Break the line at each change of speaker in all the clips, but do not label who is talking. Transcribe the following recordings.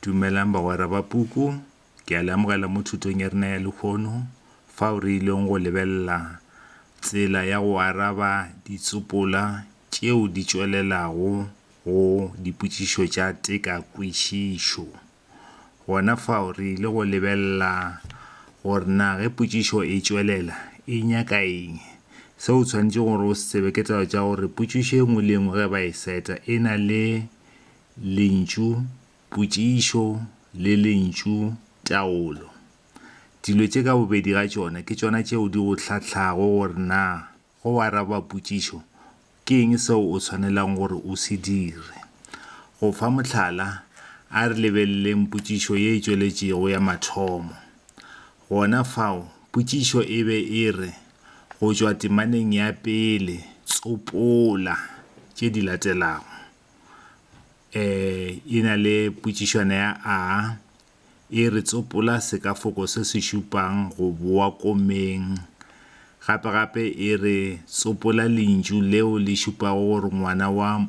Dumelang bagwera ba puku. Ke a le amogela mo thutong ya rena ya lekgono fao re ileng go lebelela tsela ya go araba ditsopola tšeo di tšwelelago go dipotšišo tša tekakwešišo. Gona fao re ile go lebelela gore na ge potšišo e tšwelela e nyaka eng. Se o tshwanetšego gore o se tsebe ke taba tša gore potšišo e nngwe le e nngwe ge ba e seta e na le Lentšu potšišo le lentšu taolo. Dilo tše ka bobedi ga tšona ke tšona tšeo di go hlahlago gore na ge o araba potšišo ke eng seo o swanelago gore o se dire. Go fa mohlala, a re lebeleleng potšišo ye e tšweletšego ya mathomo. Gona fao, potšišo e be e re, Go tšwa temaneng ya pele, tsopola tše di latelago. e na le potšišwana ya A, e re tsopola sekafoko se se šupang go boa komeng. Gape-gape e re tsopola lentšu leo le šupago gore ngwana wa,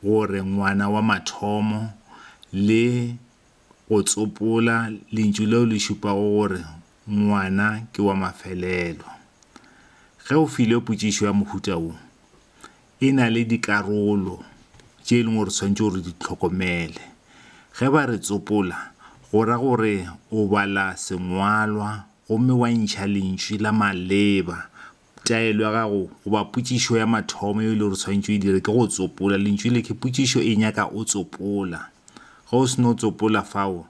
gore ngwana wa mathomo le go tsopola lentšu leo le šupago gore ngwana ke wa mafelelo. Ge o filwe potšišo ya mohuta wo, e na le dikarolo tše e leng gore tshwanetse gore di tlhokomele. Ge ba re tsopola, go ra gore o bala sengwalwa gomme wa ntšha lentšwi la maleba. Taelo ya gago goba potšišo ya mathomo yeo e le gore tshwanetse o e dire ke go tsopola. Lentšwi le ke potšišo e nyaka o tsopola. Ge o se no tsopola fao,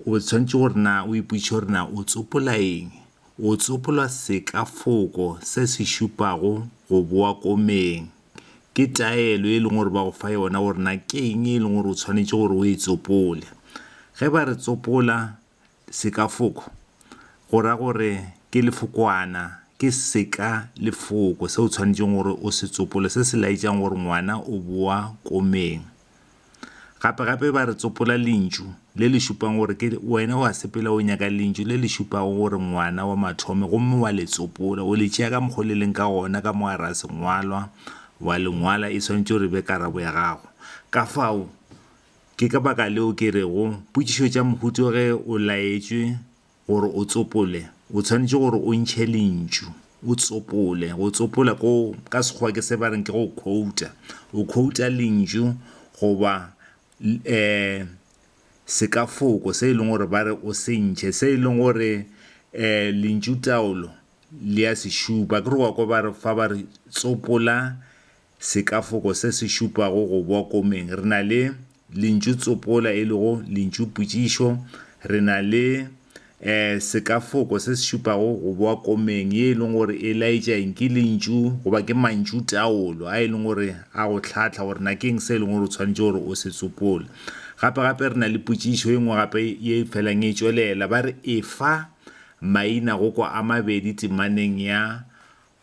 o tshwanetse gore na o ipotšiše gore na o tsopola eng. O tsopola sekafoko se se šupago go boa komeng. Ke taelo e leng gore ba go fa yona gore na ke eng e leng gore o tshwanetše gore o e tsopole. Ge ba re tsopola sekafoko, go ra gore ke lefokwana, ke seka lefoko se o tshwanetšeng gore o se tsopole se se laetšang gore ngwana o boa komeng. Gape-gape ba re tsopola lentšu le le šupago gore ke wena wa sepela o nyaka lentšu le le šupago gore ngwana wa mathome gomme wa le tsopola, o le tšea ka mokgwa o le leng ka gona ka mogara sengwalwa, wa le ngwala, e swanetše gore e be karabo ya gago. Kafao, ke ka baka leo ke rego, potšišo tša mohuto ge o laetšwe, Gore o tsopole, o tshwanetše gore o ntšhe lentšu, o tsopole. Go tsopola ko ka Sekgowa ke se ba reng ke go quota. O quota lentšu goba um sekafoko se e leng gore ba re o se ntšhe, se e leng gore um lentšutaolo le a se šupa. Akere o a kwa ba re fa ba re tsopola Sekafoko se se šupago go bwa komeng, re na le lentšu tsopola e lego lentšu potšišo, re na le e, sekafoko se se šupago go bwa komeng ye e leng gore e laetša eng, ke lentšu goba ke mantšutaolo a e leng gore a go hlahla gore na ke eng se e leng gore o tshwanetše gore o se tsopole. Gape gape re na le potšišo e nngwe gape ye e felang e tšwelela, ba re efa maina go kwa a mabedi temaneng ya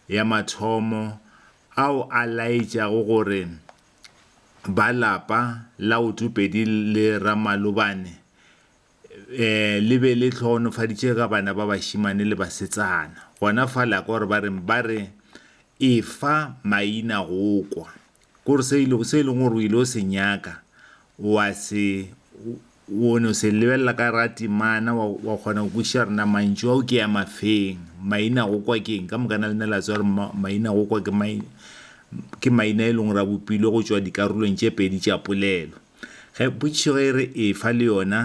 ya mathomo ao a laetšago gore ba lapa la Otopedi le Ramalobane le be le hloohonofaditše ka bana ba bašemane le basetsana. Gona fa la ka gore ba reng? Ba re, Efa maina go kwa. Ke gore se e se e leng gore o ile o se nyaka wa se o ne o se lebelela ka ra temana wa wa kgona go kwešiša gore na mantšu ao ke ya mafeng maina go kwa ke eng ka moka na le ne la tswa gore maina go kwa ke maina ke maina e leng gore a bopilwe go tšwa dikarolong tše pedi tša polelo. Ge potšišo ge e re efa le yona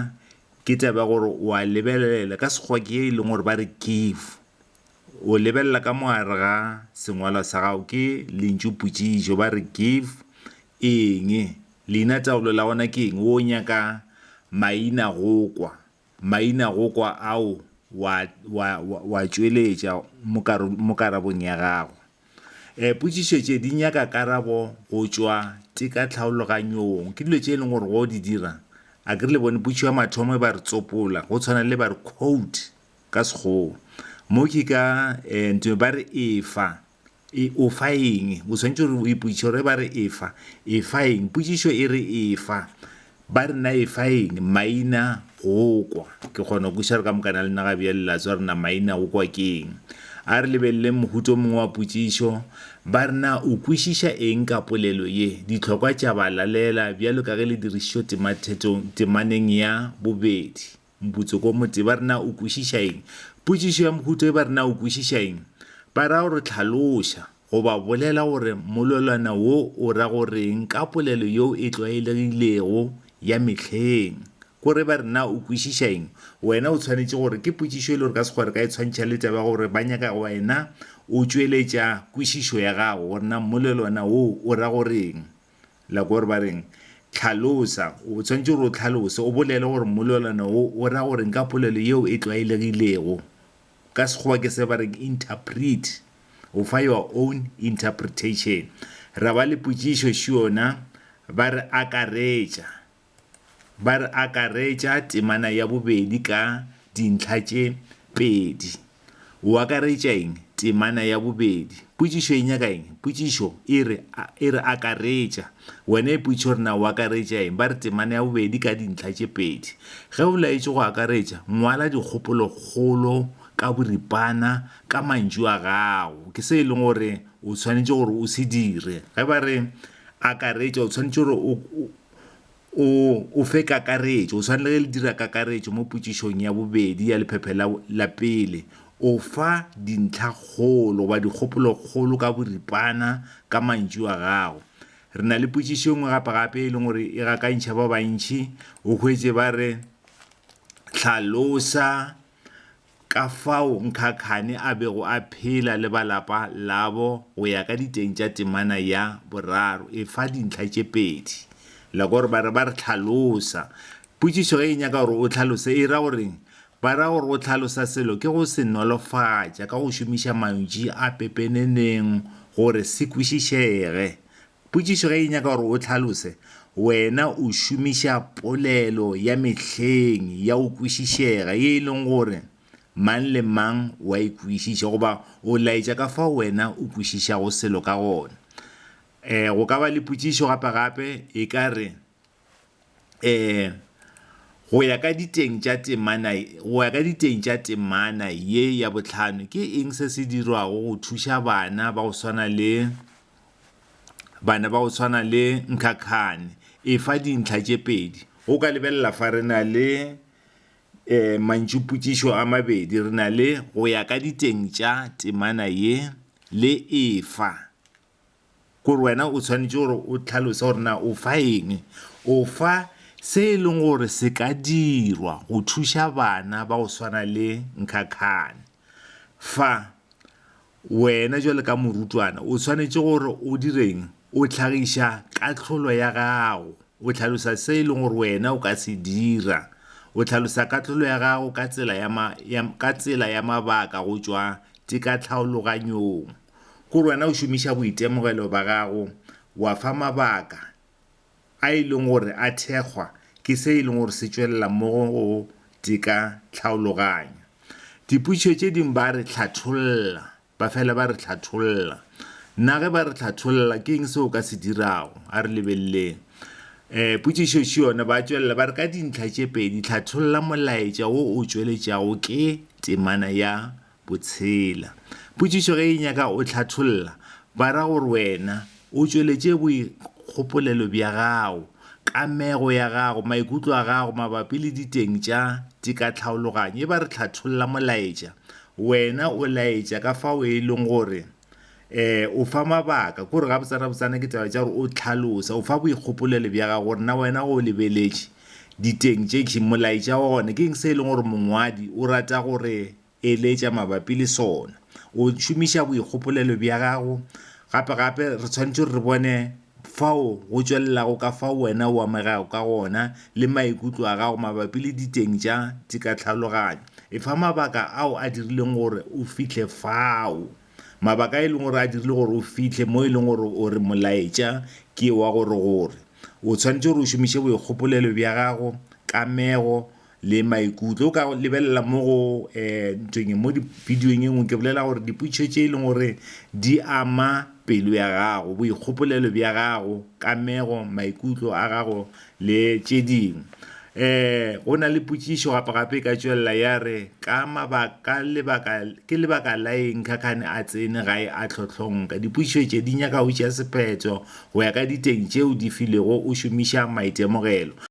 ke taba ya gore wa lebelelela ka Sekgowa ke e leng gore ba re give. O lebelela ka mo gare ga sengwalwa sa gago ke lentšu potšišo ba re give eng, leina taolo la gona ke eng, wo nyaka maina go kwa, maina go kwa ao wa wa wa tšweletša mo mo karabong ya gago. Potšišo tše di nyaka karabo go tšwa teka tlhaologanyong, ke dilo tše e leng gore go di dira a ke re le bone potšišo ya mathomo e ba re tsopola go tshwana le ba re quote. ka Sekgowa. Mo ke ka um ntho ba re efa, e o fa eng? O tshwanetse gore o ipotšiše gore ba re efa, efa eng? Potšišo e re efa, ba re na efa eng? Maina go kwa. Ke kgona go kwešiša re ka mokana le nna ga bjale la tswa re na maina go kwa ke eng. A re lebelele mohuta o mongwe wa potšišo, ba re na o kwešiša eng ka polelo ye? Ditlhokwa tša balalela bjalo ka ge le dirišišo temathetong temaneng ya bobedi. Mputso ko mote ba re na o kwešiša eng? Potšišo ya mohuta e ba re na o kwešiša eng? Ba ra gore tlhaloša goba bolela gore mololwana wo o ra go reng ka polelo yeo e tlwaelegilego ya mehleng. Ko re ba re na o kwešiša eng? Wena o tshwanetše gore ke potšišo e le gore ka sekgowa re ka e tshwantšha le taba ya gore ba nyaka wena o tšweletša kwešišo ya gago gore na mololwana wo o ra go reng. La gore ba reng? Tlhalosa. O tshwanetse gore o tlhalose, o bolele gore mmolelwana wo o ra goreng ka polelo yeo e tlwaelegilego. Ka Sekgowa ke se ba reng interpret. O fa your own interpretation. Ra ba le potšišo, Sure na? Ba re akaretša. Ba re akaretša temana ya bobedi ka dintlha tše pedi. O akaretša eng? Temana ya bobedi. Potšišo e nyaka eng? Potšišo e re, e re akaretša. Wena ipotšiše gore na o akaretša eng. Ba re temana ya bobedi ka dintlha tše pedi. Ge o laetšwe go akaretša, ngwala dikgopolokgolo ka boripana ka mantšu a gago. Ke se e leng gore o swanetše gore o se dire. Ge ba re akaretša, o swanetše gore o, O, o fe kakaretšo. O swanele ge le dira kakaretšo mo potšišong ya bobedi ya lephephe la, la pele, o fa dintlhakgolo goba dikgopolokgolo ka boripana ka mantšu a gago. Re na le potšišo e nngwe gapegape e leng gore e gakantšha ba bantši, o hwetše ba re, Hlalosa. ka fao Nkhakhane a bego a phela le ba lapa labo go ya ka diteng tša temana ya boraro e fa dintlha tše pedi. Lekore ba re ba re hlalosa. Potšišo ge e nyaka gore o hlalose e ra go reng? Ba ra gore go hlalosa selo ke go se nolofatša ka go šomiša mantši a pepeneneng gore se kwešišege. Potšišo ge e nyaka gore o hlalose, wena o šomiša polelo ya mehleng ya go kwešišega ye e leng gore mang le mang o a e kwešiša goba o laetša ka fao wena o kwešišago selo ka gona. Go ka ba le potšišo gape-gape e ka re. um go ya ka diteng tša temana go ya ka diteng tša temana ye ya bohlano ke eng se se dirwago go thuša bana ba go swana le bana ba go swana le nkhakhane e fa dintlha tše pedi o ka lebelela fa re na le um mantšupotsišo a mabedi re na le go ya ka diteng tša temana ye le e fa Kore wena o tshwanetše gore o tlhalose gore na o fa eng. O fa se e leng gore se ka dirwa go thuša bana ba go swana le Nkhakhane. Fa, wena bjalo ka morutwana o tshwanetše gore o direng? O tlhagiša kahlolo ya gago. O tlhalosa se e leng gore wena o ka se dira. O tlhalosa kahlolo ya gago ka tsela ya, ka tsela ya mabaka go tšwa tekatlhaologanyong. Gore wena o šomiša boitemogelo ba gago wa fa mabaka a e leng gore a thekgwa ke se e leng gore se tšwelela mo go go teka tlhaologanyo. Dipotšišo tše dingwe ba re hlatholla, ba fela ba re hlatholla. Na ge ba re hlatholla ke eng se o ka se dirago? A re lebeleleng um potšišo še yona, ba tšwelela ba re ka dintlha tše pedi hlatholla molaetša wo o tšweletšago ke temana ya Botshela. Potšišo ge e nyaka o hlatholla, ba ra gore wena o tšweletše boikgopolelo bja gago, kamego ya gago, maikutlo a gago mabapi le diteng tša tikatlhaologanyo. E ba re hlatholla molaetša, wena o laetša ka fao e leng gore. um o fa mabaka kore gabotsanabotsana ke taba tša gore o tlhalosa o fa boikgopolelo bja gago gore na wena o lebeletše diteng tše keng molaetša wa gona ke eng se e leng gore mongwadi o rata gore eletša mabapi le sona o šomiša boikgopolelo bja gago gape gape re tshwanetse re bone fao go tšwelelago ka fao wena o amegago ka gona le maikutlo a gago mabapi le diteng tša tšekatlhaloganyo. Efa mabaka ao a dirileng gore o fihle fao, mabaka a e lego gore a dirile gore o fihle mo e lego gore o re molaetša ke wa gore gore o swanetše gore o šomiše boikgopolelo bja gago, kamego, le maikutlo o ka lebelela mo go um ntweng mo bidiong e nngwe ke bolela gore dipotšišo tše e leng gore di ama pelo ya gago boikgopolelo bja gago kamego maikutlo a gago le tše dingwe um go na le potšišo gape gape e ka tšwelela ya re ka mabaka lebaka ke lebaka la eng khakhane a tsene gae a tlhotlhonka dipotšišo tše di nyaka go tšea sephetho go ya ka diteng tšeo di filego o šomiša maitemogelo